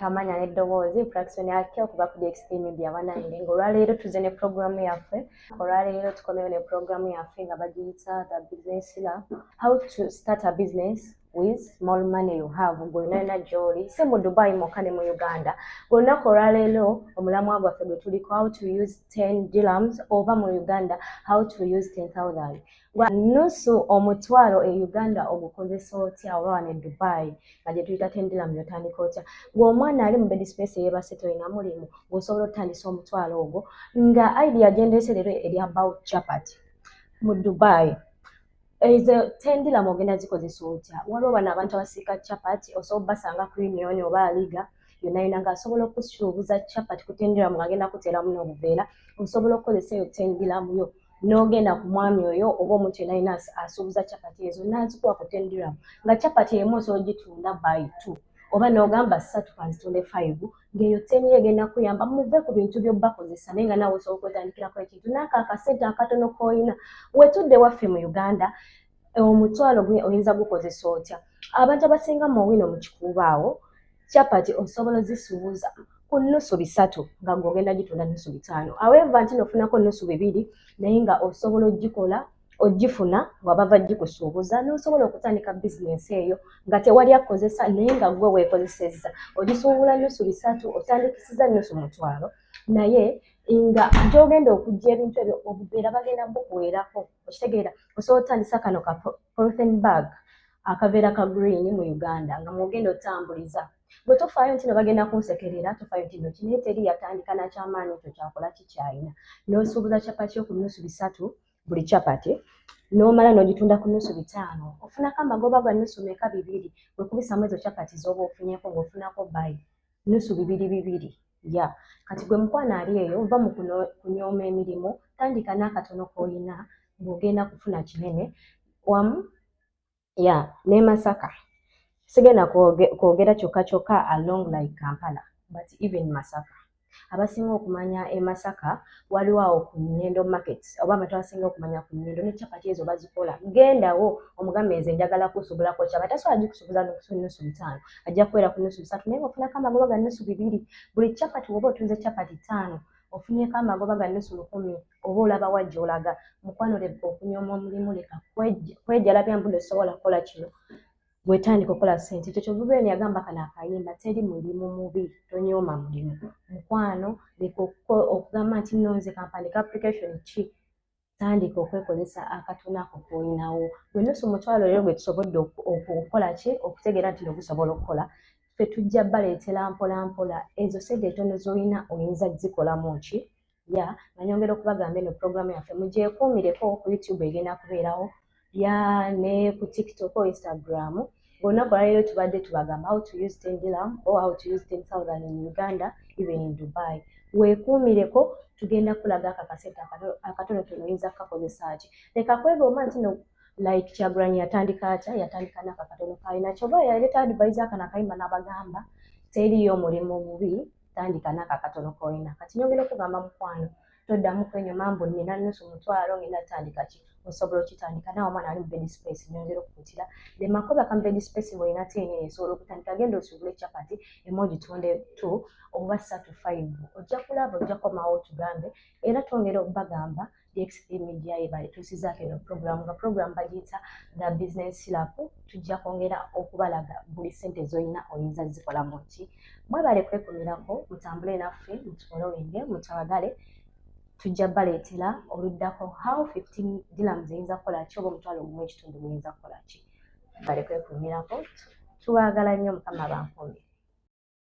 tamanya n'eddoboozi infraction yake okuva ku dxp media banange ngaolwaleero tuze ne programu yaffe olwaleero tukomewo ne programu yaffe nga bagiyita the business la how to start a business with small money you have gwenaena gyoli si mu dubai mokka ne mu uganda gwelunaku olwaleero omulamwa gwaffe gwe tuliko how to use 10 dilams oba mu uganda how to use 10000 gwa nusu omutwalo e uganda ogukozesa otya oba wano e dubai nga gyetuyita tendilam yotandika otya gweomwana ali mu bedispace eyebase tolina mulimu gweosobola otutandisa omutwalo ogwo nga aidi yagendese leero erya bout chapat mu dubai ezo tendilam ogenda zikozesa otya waliwo bano abantu abasiika chapat osobola obasanga ku union oba aliga yonayona nga asobola okusuubuza chapat ku tendilam ngagenda kuteeramu nobuveera osobola okukozesa eyo tendilamuyo n'ogenda ku mwami oyo oba omuntu yena yina asuubuza capati ezo nazikuwa ku ten diram nga capati emu osobola ogitunda by two oba n'ogamba ssatu kanzitunde five ng'eyo ten egenda kuyamba muve ku bintu by'obakozesa naye nga nawe osobola okwetandikirako ekintu naako akasente akatono k'olina wetudde waffe mu uganda omutwalo gwe oyinza gukozesa otya abantu abasinga mu wino mu kikuuba awo chapati osobola ozisuuza ku nnusu bisatu nga gweogenda gitunda nnusu bitaano aweva nti nofunako nnusu bibiri naye nga osobola ogikola ogifuna nga bava gikusuubuza nosobola okutandika bizinensi eyo nga tewali akozesa naye nga gwe weekozesezza ogisuubula nnusu bisatu otandikisiza nnusu mutwalo naye nga gyogenda okujja ebintu ebyo obubeera bagenda bukuweerako okitegeera osobola otandisa kano ka profen bag akaveera ka green mu uganda nga mwogenda otambuliza gwe tofaayo nti no bagenda kunsekerera tofaayo nti no kinaye teri yatandika nakyamaanyi ekyo kyakola kikyayina nosuubuza capati yo ku nusu bisatu buli capati nomala nogitunda ku nusu bitaano ofunako amagoba gwa nusu meka bibiri wekubisamu ezo capati zoba ofunyeko ngaofunako bayi nusu bibiri bibiri ya kati gwe mukwano ali eyo va mu kunyooma emirimu tandika n'akatono k'olina ng'ogenda kufuna kinene wamu ya ne masaka sigenda kwogera kyokka kyokka along like kampala but even masaka abasinga okumanya e masaka waliwo awo ku nyendo market oba abantu abasinga okumanya ku nyendo ne capati ezo bazikola gendawo omugambe nze njagala kusubulako kyaba tasobola gikusubuza nusu bitaano ajja kubeera ku nusu bisatu naye ngaofunako amagoba ga nusu bibiri buli chapati woba otunze chapati taano ofunyeko amagoba ga nusu lukumi oba olaba wajja olaga mukwano leka okunyooma omulimu leka kwejalabya mbuno esobola kukola kino wetandika okola sente ekyo kyovubeeni yagamba kana akayimba teri mulimu mubi tonyooma mulimu mukwano leka okugamba nti nonze kampandika application ki tandika okwekozesa akatona ako koolinawo gwe nusu omutwalo leero gwe tusobodde okukola ki okutegeera nti nogusobola okukola fe tujja baleetera mpolampola ezo sente etono zolina oyinza zikolamu ki ya nanyongera okubagamba eno puroguramu yaffe mugyekuumireko ku youtube egenda kubeerawo ya ne ku tiktok o instagram olunaku olwaleero tubadde tubagamba how to use ten dilam or how to use ten thousand in uganda even in dubai weekuumireko tugenda kulaga ako akasente akatonotono oyinza kukakozesa ki leka kwegomba nti no like kyagulanyi yatandika atya yatandika nako akatono kalina kyoba yaleta advise akano akayimba n'abagamba teriyo omulimu mubi tandika nako akatono kolina kati nyongera okugamba mukwano toddamu kwenyuma mbu nina nusu mutwalo ngenda tandika ki osobola okitandika nawe omwana ali mu bed space nyongera okukutira the makoba ka bed space bwolina tiini esobola okutandika genda osubule chapati emu ogitunde t oba satu five ojja kulaba ojja komawo otugambe era twongera okubagamba dxp media yebale tusizaako eno program nga program bagiyita the business lap tujja kwongera okubalaga buli sente zolina oyinza zikolamu ki mwebale kwekumirako mutambule naffe mutufolowinge mutwagale tujja baleetera oluddako how 15 dilam ziyinza kukola ki oba omutwalo ogumu ekitundu muyinza kukola ki bale kwekumirako tubaagala nnyo mukama bankumbi